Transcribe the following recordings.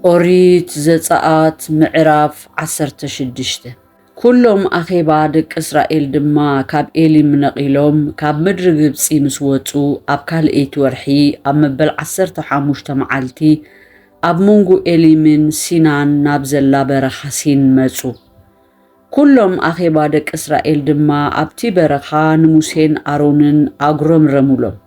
ኦሪት ዘጸኣት ምዕራፍ ዓሰርተ ሽዱሽተ ኵሎም ኣኼባ ደቂ እስራኤል ድማ ካብ ኤሊም ነቒሎም ካብ ምድሪ ግብጺ ምስ ወጹ ኣብ ካልኣይቲ ወርሒ ኣብ መበል ዓሰርተ ሓሙሽተ መዓልቲ ኣብ መንጎ ኤሊምን ሲናን ናብ ዘላ በረኻ ሲን መጹ። ኵሎም ኣኼባ ደቂ እስራኤል ድማ ኣብቲ በረኻ ንሙሴን ኣሮንን ኣጕረምረሙሎም።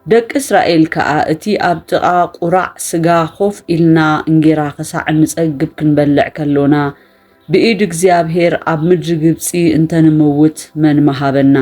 ደቂ እስራኤል ከኣ እቲ ኣብ ጥቓ ቍራዕ ስጋ ኮፍ ኢልና እንጌራ ኽሳዕ እንጸግብ ክንበልዕ ከሎና፣ ብኢድ እግዚኣብሄር ኣብ ምድሪ ግብጺ እንተ ንመውት መን ምሃበና?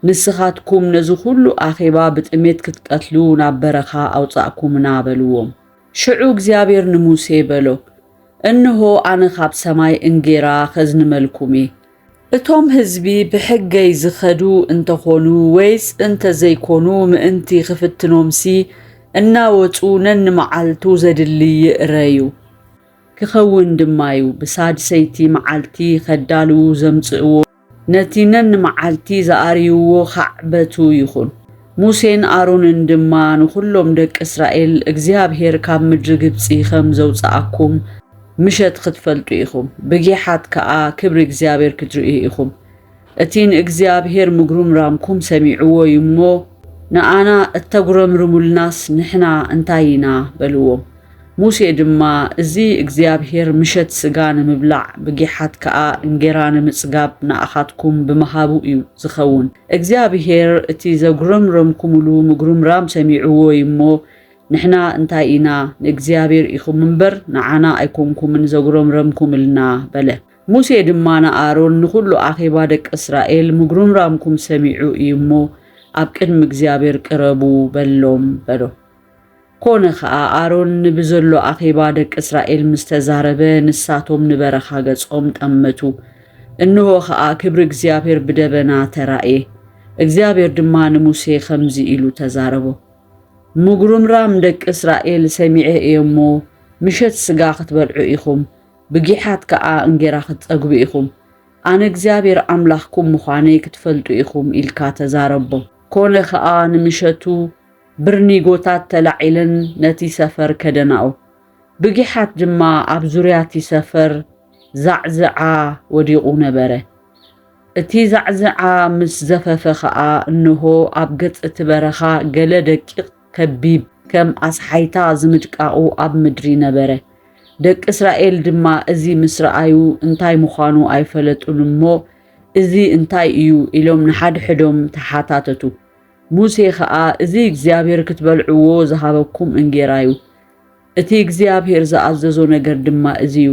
ንስኻትኩም ነዚ ዅሉ ኣኼባ ብጥሜት ክትቀትሉ ናብ በረኻ ኣውጻእኩምና በልዎም። ሽዑ እግዚኣብሄር ንሙሴ በሎ፣ እንሆ፣ ኣነ ኻብ ሰማይ እንጌራ ኸዝንመልኩም እየ፣ እቶም ህዝቢ ብሕገይ ዝኸዱ እንተኾኑ ወይስ እንተዘይኮኑ ምእንቲ ክፍትኖምሲ እናወጹ ነንመዓልቱ ዘድሊ ይእረዩ። ክኸውን ድማዩ ብሳድሰይቲ መዓልቲ ከዳልዉ ዘምጽእዎ ነቲ ነንመዓልቲ ዝኣርይዎ ኻዕበቱ ይኹን። ሙሴን ኣሮንን ድማ ንኹሎም ደቂ እስራኤል እግዚኣብሄር ካብ ምድሪ ግብጺ ኸም ዘውጽኣኩም፣ ምሸት ኽትፈልጡ ኢኹም፣ ብጊሓት ከኣ ክብሪ እግዚኣብሔር ክትርእዩ ኢኹም፣ እቲ ንእግዚኣብሔር ምጕርምራምኩም ሰሚዕዎ እዩ እሞ፣ ንኣና እተጕረምርሙልናስ ንሕና እንታይ ኢና? በልዎም። ሙሴ ድማ፣ እዚ እግዚኣብሔር ምሸት ሥጋ ንምብላዕ፣ ብጊሓት ከኣ እንጌራ ንምጽጋብ ንኣኻትኩም ብምሃቡ እዩ ዚኸውን፣ እግዚኣብሔር እቲ ዘጕረምረምኩምሉ ምጕርምራም ሰሚዕዎ እዩ እሞ፣ ንሕና እንታይ ኢና ንእግዚኣብሔር ኢኹም እምበር ንዓና ኣይኮንኩምን ዘጉረምረምኩምልና በለ። ሙሴ ድማ ንኣሮን ንኹሉ ኣኼባ ደቂ እስራኤል ምጉርምራምኩም ሰሚዑ እዩ እሞ ኣብ ቅድሚ እግዚኣብሔር ቅረቡ በሎም በሎ። ኮነ ኸኣ ኣሮን ንብዘሎ ኣኼባ ደቂ እስራኤል ምስ ተዛረበ ንሳቶም ንበረኻ ገጾም ጠመቱ። እንሆ ኸኣ ክብሪ እግዚኣብሔር ብደበና ተራእየ። እግዚኣብሔር ድማ ንሙሴ ኸምዚ ኢሉ ተዛረቦ። ምጉርምራም ደቂ እስራኤል ሰሚዐ እየ እሞ፣ ምሸት ስጋ ኽትበልዑ ኢኹም፣ ብጊሓት ከኣ እንጌራ ኽትጸግቡ ኢኹም፣ ኣነ እግዚኣብሄር ኣምላኽኩም ምዃነይ ክትፈልጡ ኢኹም ኢልካ ተዛረቦ። ኰነ ኸኣ፣ ንምሸቱ ብርኒጎታት ተላዒለን ነቲ ሰፈር ከደናኦ፣ ብጊሓት ድማ ኣብ ዙርያ እቲ ሰፈር ዛዕዝዓ ወዲቑ ነበረ። እቲ ዛዕዝዓ ምስ ዘፈፈ ኸኣ እንሆ ኣብ ገጽ እቲ በረኻ ገለ ደቂቕ ከቢብ ከም ኣስሓይታ ዝምድቃቑ ኣብ ምድሪ ነበረ። ደቂ እስራኤል ድማ እዚ ምስ ረኣዩ እንታይ ምዃኑ ኣይፈለጡን እሞ እዚ እንታይ እዩ ኢሎም ንሓድሕዶም ተሓታተቱ። ሙሴ ኸኣ እዚ እግዚኣብሄር ክትበልዕዎ ዝሃበኩም እንጌራ እዩ። እቲ እግዚኣብሄር ዝኣዘዞ ነገር ድማ እዚ እዩ፣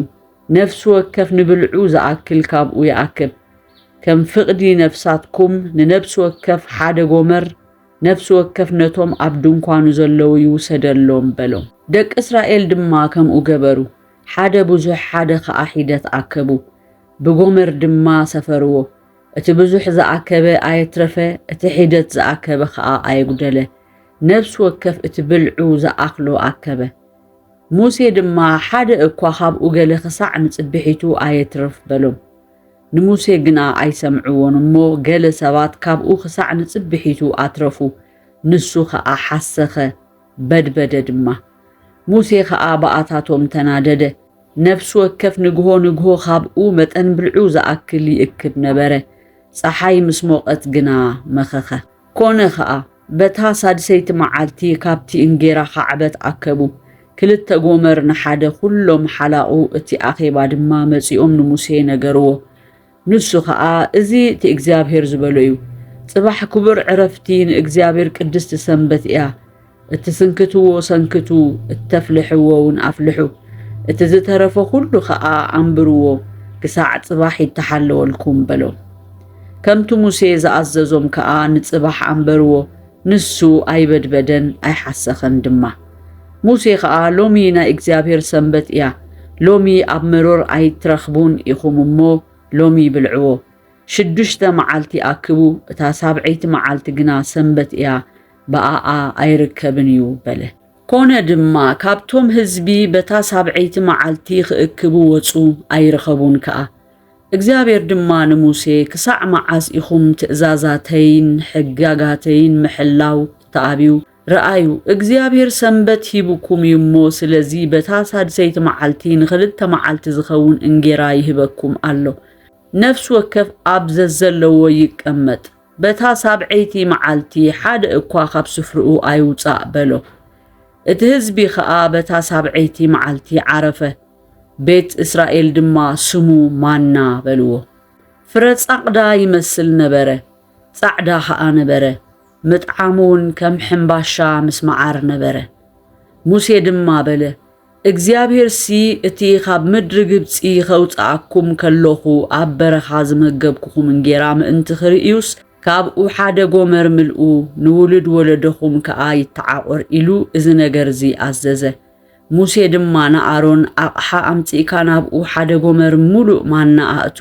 ነፍሲ ወከፍ ንብልዑ ዝኣክል ካብኡ ይኣክብ። ከም ፍቕዲ ነፍሳትኩም ንነብሲ ወከፍ ሓደ ጎመር፣ ነፍሲ ወከፍ ነቶም ኣብ ድንኳኑ ዘለዉ ይውሰደሎም በሎም። ደቂ እስራኤል ድማ ከምኡ ገበሩ፣ ሓደ ብዙሕ ሓደ ኸኣ ሒደት ኣከቡ፣ ብጎመር ድማ ሰፈርዎ። እቲ ብዙሕ ዝኣከበ ኣየትረፈ፣ እቲ ሒደት ዝኣከበ ኸኣ ኣየጕደለ። ነፍሲ ወከፍ እቲ ብልዑ ዝኣኽሎ ኣከበ። ሙሴ ድማ፣ ሓደ እኳ ኻብኡ ገለ ኽሳዕ ንጽብሒቱ ኣየትርፍ በሎም። ንሙሴ ግና ኣይሰምዕዎን እሞ፣ ገለ ሰባት ካብኡ ኽሳዕ ንጽብሒቱ ኣትረፉ፣ ንሱ ኸኣ ሓሰኸ፣ በድበደ ድማ። ሙሴ ኸኣ ብኣታቶም ተናደደ። ነፍሲ ወከፍ ንግሆ ንግሆ ኻብኡ መጠን ብልዑ ዝኣክል ይእክብ ነበረ፣ ጸሓይ ምስ ሞቐት ግና መኸኸ። ኰነ ኸኣ፣ በታ ሳድሰይቲ መዓልቲ ካብቲ እንጌራ ኻዕበት ኣከቡ፣ ክልተ ጎመር ንሓደ፣ ዅሎም ሓላቑ እቲ ኣኼባ ድማ መጺኦም ንሙሴ ነገርዎ። ንሱ ኸኣ፣ እዚ እቲ እግዚኣብሄር ዝበሎ እዩ፣ ጽባሕ ክቡር ዕረፍቲ፣ ንእግዚኣብሄር ቅድስቲ ሰንበት እያ፣ እትስንክትዎ ሰንክቱ፣ እተፍልሕዎውን ኣፍልሑ፣ እቲ ዝተረፈ ዅሉ ኸኣ ኣንብርዎ፣ ክሳዕ ጽባሕ ይተሓለወልኩም በሎም። ከምቲ ሙሴ ዝኣዘዞም ከኣ ንጽባሕ ኣንበርዎ፣ ንሱ ኣይበድበደን ኣይሓሰኸን ድማ። ሙሴ ኸኣ ሎሚ ናይ እግዚኣብሄር ሰንበት እያ፣ ሎሚ ኣብ መሮር ኣይትረኽቡን ኢኹም እሞ፣ ሎሚ ብልዕዎ። ሽዱሽተ መዓልቲ ኣክቡ፣ እታ ሳብዐይቲ መዓልቲ ግና ሰንበት እያ፣ ብኣኣ ኣይርከብን እዩ በለ። ኮነ ድማ፣ ካብቶም ህዝቢ በታ ሳብዐይቲ መዓልቲ ኽእክቡ ወጹ፣ ኣይረኸቡን ከኣ። እግዚኣብሔር ድማ ንሙሴ ክሳዕ መዓስ ኢኹም ትእዛዛተይን ሕጋጋተይን ምሕላው ትኣብዩ? ርኣዩ፣ እግዚኣብሔር ሰንበት ሂቡኩም እዩ እሞ፣ ስለዚ በታ ሳድሰይቲ መዓልቲ ንኽልተ መዓልቲ ዝኸውን እንጌራ ይህበኩም ኣሎ፣ ነፍሲ ወከፍ ኣብ ዘዘለዎ ይቀመጥ፣ በታ ሳብዐይቲ መዓልቲ ሓደ እኳ ኻብ ስፍርኡ ኣይውጻእ በሎ። እቲ ህዝቢ ኸኣ በታ ሳብዐይቲ መዓልቲ ዓረፈ። ቤት እስራኤል ድማ ስሙ ማና በልዎ። ፍረ ጻቕዳ ይመስል ነበረ፣ ጻዕዳ ኸኣ ነበረ፣ ምጥዓሙውን ከም ሕምባሻ ምስ መዓር ነበረ። ሙሴ ድማ በለ፣ እግዚኣብሄርሲ እቲ ኻብ ምድሪ ግብጺ ኸውጽኣኩም ከሎኹ ኣብ በረኻ ዝመገብኩኹም እንጌራ ምእንቲ ኽርእዩስ፣ ካብኡ ሓደ ጎመር ምልኡ፣ ንውሉድ ወለዶኹም ከኣ ይተዓቖር ኢሉ እዚ ነገር እዚ ኣዘዘ። ሙሴ ድማ ንኣሮን፣ ኣቕሓ ኣምጺእካ ናብኡ ሓደ ጎመር ምሉእ ማና ኣእቱ፣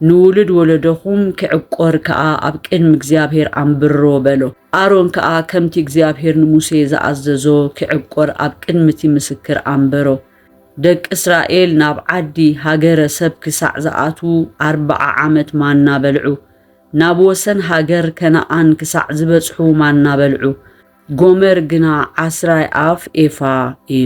ንውሉድ ወለዶኹም ኪዕቈር ከኣ ኣብ ቅድሚ እግዚኣብሄር ኣንብሮ፣ በሎ። ኣሮን ከኣ ከምቲ እግዚኣብሄር ንሙሴ ዝኣዘዞ ኪዕቈር ኣብ ቅድሚ እቲ ምስክር ኣንበሮ። ደቂ እስራኤል ናብ ዓዲ፣ ሃገረ፣ ሰብ ክሳዕ ዝኣትዉ ኣርብዓ ዓመት ማና በልዑ። ናብ ወሰን ሃገር ከነኣን ክሳዕ ዝበጽሑ ማና በልዑ። ጎመር ግና ዓስራይ ኣፍ ኤፋ እዩ።